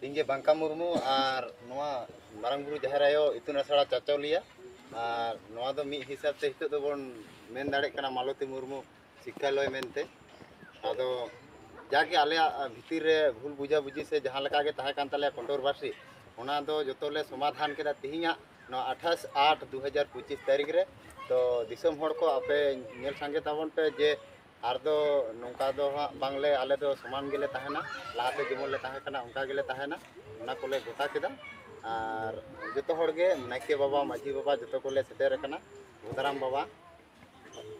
ᱤᱧᱜᱮ ᱵᱟᱝᱠᱟ ᱢᱩᱨᱢᱩ ᱟᱨ ᱱᱚᱣᱟ ᱢᱟᱨᱟᱝ ᱵᱩᱨᱩ ᱡᱟᱦᱮᱨ ᱟᱭᱳ ᱤᱛᱩᱱ ᱟᱥᱲᱟ ᱪᱟᱪᱚᱞᱤᱭᱟ ᱟᱨ ᱱᱚᱣᱟ ᱫᱚ ᱢᱤᱫ ᱦᱤᱥᱟᱹᱵ ᱛᱮ ᱱᱤᱛᱚᱜ ᱫᱚᱵᱚᱱ ᱢᱮᱱ ᱫᱟᱲᱮᱭᱟᱜ ᱠᱟᱱᱟ ᱢᱟᱞᱚᱛᱤ ᱢᱩᱨᱢᱩ ᱥᱤᱠᱠᱷᱟᱞᱚᱭ ᱢᱮᱱᱛᱮ ᱟᱫᱚ ᱡᱟᱜᱮ ᱟᱞᱮᱭᱟᱜ ᱵᱷᱤᱛᱤᱨ ᱨᱮ ᱵᱷᱩᱞ ᱵᱩᱡᱷᱟᱵᱩᱡᱷᱤ ᱥᱮ ᱡᱟᱦᱟᱸ ᱞᱮᱠᱟ ᱜᱮ ᱛᱟᱦᱮᱸ ᱠᱟᱱ ᱛᱟᱞᱮᱭᱟ ᱠᱚᱱᱴᱨᱳᱵᱷᱟᱨᱥᱤ ᱚᱱᱟ ᱫᱚ ᱡᱚᱛᱚ ᱞᱮ ᱥᱚᱢᱟᱫᱷᱟᱱ ᱠᱮᱫᱟ ᱛᱮᱦᱮᱧᱟᱜ ᱱᱚᱣᱟ ᱟᱴᱷᱟᱥ ᱟᱴ ᱫᱩ ᱦᱟᱡᱟᱨ ᱯᱚᱸᱪᱤᱥ ᱛᱟᱹᱨᱤᱠᱷ ᱨᱮ ᱛᱚ ᱫᱤᱥᱚᱢ ᱦᱚᱲ ᱠᱚ ᱟᱯᱮ ᱧᱮᱞ ᱥᱟᱸᱜᱮ ᱛᱟᱵᱚᱱ ᱯᱮ ᱡᱮ ᱟᱨ ᱫᱚ ᱱᱚᱝᱠᱟ ᱫᱚ ᱦᱟᱸᱜ ᱵᱟᱝᱞᱮ ᱟᱞᱮ ᱫᱚ ᱥᱚᱢᱟᱱ ᱜᱮᱞᱮ ᱛᱟᱦᱮᱱᱟ ᱞᱟᱦᱟᱛᱮ ᱡᱮᱢᱚᱱ ᱞᱮ ᱛᱟᱦᱮᱸ ᱠᱟᱱᱟ ᱚᱱᱠᱟ ᱜᱮᱞᱮ ᱛᱟᱦᱮᱱᱟ ᱚᱱᱟ ᱠᱚᱞᱮ ᱜᱚᱴᱟ ᱠᱮᱫᱟ ᱟᱨ ᱡᱚᱛᱚ ᱦᱚᱲ ᱜᱮ ᱱᱟᱭᱠᱮ ᱵᱟᱵᱟ ᱢᱟᱺᱡᱷᱤ ᱵᱟᱵᱟ ᱡᱚᱛᱚ ᱠᱚᱞᱮ ᱥᱮᱴᱮᱨ ᱟᱠᱟᱱᱟ ᱵᱚᱫᱟᱨᱟᱢ ᱵᱟᱵᱟ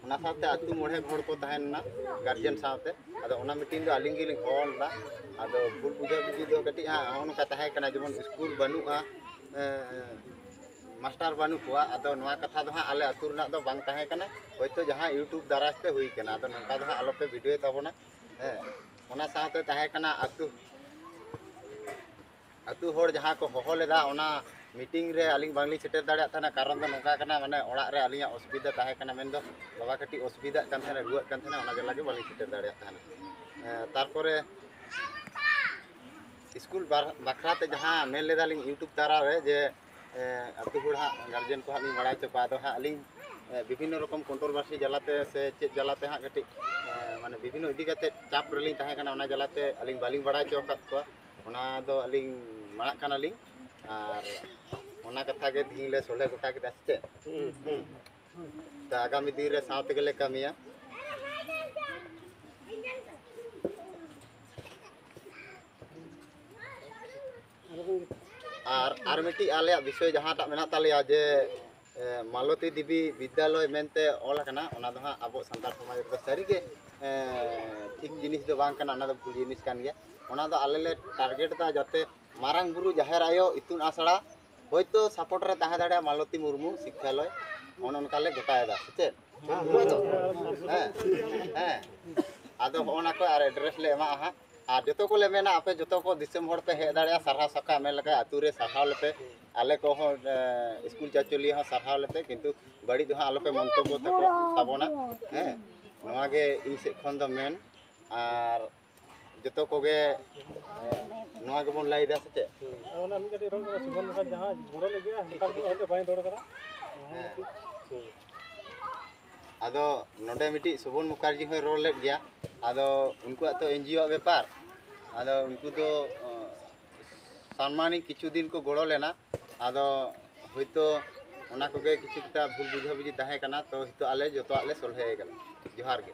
ᱚᱱᱟ ᱥᱟᱶᱛᱮ ᱟᱹᱛᱩ ᱢᱚᱬᱮ ᱦᱚᱲ ᱠᱚ ᱛᱟᱦᱮᱱᱟ ᱜᱟᱨᱡᱮᱱ ᱥᱟᱶᱛᱮ ᱟᱫᱚ ᱚᱱᱟ ᱢᱤᱴᱤᱝ ᱫᱚ ᱟᱹᱞᱤᱧ ᱜᱮᱞᱤᱧ ᱦᱚᱦᱚ ᱞᱮᱫᱟ ᱟᱫᱚ ᱵᱷᱩᱞ ᱵᱩᱡᱷᱟᱹ ᱵᱩᱡᱷᱤ ᱫᱚ ᱠᱟᱹᱴᱤᱡ ᱦᱟᱸᱜ ᱱᱚᱜᱼᱚ ᱱᱚᱝᱠᱟ ᱛᱟᱦᱮᱸ ᱠᱟᱱᱟ ᱡᱮᱢᱚᱱ ᱥᱠᱩᱞ ᱵᱟᱹᱱᱩᱜᱼᱟ ᱢᱟᱥᱴᱟᱨ ᱵᱟᱹᱱᱩᱜ ᱠᱚᱣᱟ ᱟᱫᱚ ᱱᱚᱣᱟ ᱠᱟᱛᱷᱟ ᱫᱚ ᱦᱟᱸᱜ ᱟᱞᱮ ᱟᱹᱛᱩ ᱨᱮᱱᱟᱜ ᱫᱚ ᱵᱟᱝ ᱛᱟᱦᱮᱸ ᱠᱟᱱᱟ ᱦᱚᱭᱛᱳ ᱡᱟᱦᱟᱸ ᱤᱭᱩᱴᱩᱵᱽ ᱫᱟᱨᱟᱭ ᱛᱮ ᱦᱩᱭ ᱠᱟᱱᱟ ᱟᱫᱚ ᱱᱚᱝᱠᱟ ᱫᱚ ᱦᱟᱸᱜ ᱟᱞᱚᱯᱮ ᱵᱷᱤᱰᱤᱭᱳᱭ ᱛᱟᱵᱚᱱᱟ ᱦᱮᱸ ᱚᱱᱟ ᱥᱟᱶᱛᱮ ᱛᱟᱦᱮᱸ ᱠᱟᱱᱟ ᱟᱹᱛᱩ ᱟᱹᱛᱩ ᱦᱚᱲ ᱡᱟᱦᱟᱸ ᱠᱚ ᱦᱚᱦᱚ ᱞᱮᱫᱟ ᱚᱱᱟ ᱢᱤᱴᱤᱝ ᱨᱮ ᱟᱹᱞᱤᱧ ᱵᱟᱝᱞᱤᱧ ᱥᱮᱴᱮᱨ ᱫᱟᱲᱮᱭᱟᱜ ᱛᱟᱦᱮᱱᱟ ᱠᱟᱨᱚᱱ ᱫᱚ ᱱᱚᱝᱠᱟ ᱠᱟᱱᱟ ᱢᱟᱱᱮ ᱚᱲᱟᱜ ᱨᱮ ᱟᱹᱞᱤᱧᱟᱜ ᱚᱥᱩᱵᱤᱫᱷᱟ ᱛᱟᱦᱮᱸ ᱠᱟᱱᱟ ᱢᱮᱱᱫᱚ ᱵᱟᱵᱟ ᱠᱟᱹᱴᱤᱡ ᱚᱥᱩᱵᱤᱫᱷᱟᱜ ᱠᱟᱱ ᱛᱟᱦᱮᱱᱟ ᱨᱩᱣᱟᱹᱜ ᱠᱟᱱ ᱛᱟᱦᱮᱱᱟ ᱚᱱᱟ ᱡᱟᱞᱟ ᱜᱮ ᱵᱟᱹᱞᱤᱧ ᱥᱮᱴᱮᱨ ᱫᱟᱲᱮᱭᱟᱜ ᱛᱟᱦᱮᱱᱟ ᱛᱟᱨᱯᱚᱨᱮ ᱥᱠᱩᱞ ᱵᱟᱠᱷᱨᱟᱛᱮ ᱡᱟᱦᱟᱸ ᱢᱮᱱ ᱞᱮᱫᱟᱞᱤᱧ ᱤᱭᱩᱴᱩᱵᱽ ᱫᱟᱨᱟ ᱨᱮ ᱡᱮ ᱟᱛᱳ ᱦᱚᱲ ᱦᱟᱸᱜ ᱜᱟᱨᱡᱮᱱ ᱠᱚ ᱦᱟᱸᱜ ᱞᱤᱧ ᱵᱟᱲᱟᱭ ᱦᱚᱪᱚ ᱠᱚᱣᱟ ᱟᱫᱚ ᱦᱟᱸᱜ ᱟᱹᱞᱤᱧ ᱵᱤᱵᱷᱤᱱᱱᱚ ᱨᱚᱠᱚᱢ ᱠᱚᱱᱴᱨᱳᱵᱷᱟᱨᱥᱤ ᱡᱟᱞᱟᱛᱮ ᱥᱮ ᱪᱮᱫ ᱡᱟᱞᱟᱛᱮ ᱦᱟᱸᱜ ᱠᱟᱹᱴᱤᱡ ᱢᱟᱱᱮ ᱵᱤᱵᱷᱤᱱᱱᱚ ᱤᱫᱤ ᱠᱟᱛᱮ ᱪᱟᱯ ᱨᱮᱞᱤᱧ ᱛᱟᱦᱮᱸ ᱠᱟᱱᱟ ᱚᱱᱟ ᱡᱟᱞᱟᱛᱮ ᱟᱹᱞᱤᱧ ᱵᱟᱹᱞᱤᱧ ᱵᱟᱲᱟᱭ ᱦᱚᱪᱚ ᱟᱠᱟᱫ ᱠᱚᱣᱟ ᱚᱱᱟ ᱫᱚ ᱟᱹᱞᱤᱧ ᱢᱟᱲᱟᱜ ᱠᱟᱱᱟᱞᱤᱧ ᱟᱨ ᱚᱱᱟ ᱠᱟᱛᱷᱟ ᱜᱮ ᱛᱤᱦᱤᱧ ᱞᱮ ᱥᱚᱞᱦᱮ ᱜᱚᱴᱟ ᱠᱮᱫᱟ ᱥᱮ ᱪᱮᱫ ᱛᱚ ᱟᱜᱟᱢᱤ ᱫᱤᱱ ᱨᱮ ᱥᱟᱶ ᱛᱮᱜᱮ ᱞᱮ ᱠᱟᱹᱢᱤᱭᱟ ᱟᱨ ᱟᱨ ᱢᱤᱫᱴᱤᱡ ᱟᱞᱮᱭᱟᱜ ᱵᱤᱥᱚᱭ ᱡᱟᱦᱟᱸᱴᱟᱜ ᱢᱮᱱᱟᱜ ᱛᱟᱞᱮᱭᱟ ᱡᱮ ᱢᱟᱞᱚᱛᱤ ᱫᱮᱵᱤ ᱵᱤᱫᱽᱫᱟᱞᱚᱭ ᱢᱮᱱᱛᱮ ᱚᱞ ᱟᱠᱟᱱᱟ ᱚᱱᱟ ᱫᱚ ᱦᱟᱸᱜ ᱟᱵᱚ ᱥᱟᱱᱛᱟᱲ ᱥᱚᱢᱟᱡᱽ ᱨᱮᱫᱚ ᱥᱟᱹᱨᱤᱜᱮ ᱴᱷᱤᱠ ᱡᱤᱱᱤᱥ ᱫᱚ ᱵᱟᱝ ᱠᱟᱱᱟ ᱚᱱᱟ ᱫᱚ ᱵᱷᱩᱞ ᱡᱤᱱᱤᱥ ᱠᱟᱱ ᱜᱮᱭᱟ ᱚᱱᱟ ᱫᱚ ᱟᱞᱮ ᱞᱮ ᱴᱟᱨᱜᱮᱴ ᱮᱫᱟ ᱡᱟᱛᱮ ᱢᱟᱨᱟᱝ ᱵᱩᱨᱩ ᱡᱟᱦᱮᱨ ᱟᱭᱳ ᱤᱛᱩᱱ ᱟᱥᱲᱟ ᱦᱚᱭᱛᱳ ᱥᱟᱯᱳᱨᱴ ᱨᱮ ᱛᱟᱦᱮᱸ ᱫᱟᱲᱮᱭᱟᱜᱼᱟ ᱢᱟᱞᱚᱛᱤ ᱢᱩᱨᱢᱩ ᱥᱤᱠᱠᱷᱟᱞᱚᱭ ᱚᱱᱮ ᱚᱱᱠᱟ ᱞᱮ ᱜᱚᱴᱟᱭᱮᱫᱟ ᱥᱮ ᱪᱮᱫ ᱦᱮᱸ ᱦᱮᱸ ᱟᱫᱚ ᱦᱚᱸᱜᱼᱚ ᱱᱟ ᱠᱚ ᱟᱨ ᱮᱰᱨᱮᱥ ᱞᱮ ᱮᱢᱟᱜᱼᱟ ᱦᱟᱸᱜ ᱟᱨ ᱡᱚᱛᱚ ᱠᱚᱞᱮ ᱢᱮᱱᱟ ᱟᱯᱮ ᱡᱚᱛᱚ ᱠᱚ ᱫᱤᱥᱚᱢ ᱦᱚᱲ ᱯᱮ ᱦᱮᱡ ᱫᱟᱲᱮᱭᱟᱜᱼᱟ ᱥᱟᱨᱦᱟᱣ ᱥᱟᱠᱟᱢ ᱢᱮᱱ ᱞᱮᱠᱷᱟᱱ ᱟᱹᱛᱩ ᱨᱮ ᱥᱟᱨᱦᱟᱣ ᱞᱮᱯᱮ ᱟᱞᱮ ᱠᱚᱦᱚᱸ ᱥᱠᱩᱞ ᱪᱟᱪᱚᱞᱤᱭᱟᱹ ᱦᱚᱸ ᱥᱟᱨᱦᱟᱣ ᱞᱮᱯᱮ ᱠᱤᱱᱛᱩ ᱵᱟᱹᱲᱤᱡ ᱫᱚ ᱦᱟᱸᱜ ᱟᱞᱚᱯᱮ ᱢᱚᱱᱛᱚᱵᱽᱵᱚ ᱛᱟᱠᱚ ᱛᱟᱵᱚᱱᱟ ᱦᱮᱸ ᱱᱚᱣᱟ ᱜᱮ ᱤᱧ ᱥᱮᱫ ᱠᱷᱚᱱ ᱫᱚ ᱢᱮᱱ ᱟᱨ ᱡᱚᱛᱚ ᱠᱚᱜᱮ ᱱᱚᱣᱟ ᱜᱮᱵᱚᱱ ᱞᱟᱹᱭᱫᱟ ᱥᱮ ᱪᱮᱫ ᱚᱱᱟ ᱢᱤᱫ ᱠᱟᱹᱴᱤᱡ ᱨᱚᱲ ᱠᱟᱫᱟ ᱥᱩᱵᱚᱱ ᱞᱮᱠᱟ ᱡᱟᱦᱟᱸ ᱜᱚᱲᱚ ᱞᱟᱹᱜᱤᱫ ᱚᱱᱠᱟ ᱫᱚ ᱵᱟᱹᱧ ᱨᱚᱲ ᱠᱟᱫᱟ ᱟᱫᱚ ᱱᱚᱰᱮ ᱢᱤᱫᱴᱤᱡ ᱥᱚᱵᱚᱱ ᱢᱩᱠᱷᱟᱨᱡᱤ ᱦᱚᱸᱭ ᱨᱚᱲ ᱞᱮᱫ ᱜᱮᱭᱟ ᱟᱫᱚ ᱩᱱᱠᱩᱣᱟᱜ ᱛᱚ ᱮᱱᱡᱤᱭᱳ ᱟᱜ ᱵᱮᱯᱟᱨ ᱟᱫᱚ ᱩᱱᱠᱩ ᱫᱚ ᱥᱟᱱᱢᱟᱱᱤ ᱠᱤᱪᱷᱩ ᱫᱤᱱ ᱠᱚ ᱜᱚᱲᱚ ᱞᱮᱱᱟ ᱟᱫᱚ ᱦᱳᱭᱛᱳ ᱚᱱᱟ ᱠᱚᱜᱮ ᱠᱤᱪᱷᱩ ᱮᱠᱴᱟ ᱵᱷᱩᱞ ᱵᱩᱡᱷᱟᱹ ᱵᱩᱡᱷᱤ ᱛᱟᱦᱮᱸ ᱠᱟᱱᱟ ᱛᱚ ᱱᱤᱛᱚᱜ ᱟᱞᱮ ᱡᱚᱛᱚᱣᱟᱜ ᱞᱮ ᱥᱚᱞᱦᱮ ᱠᱟᱫᱟ ᱡᱚᱦᱟᱨ ᱜᱮ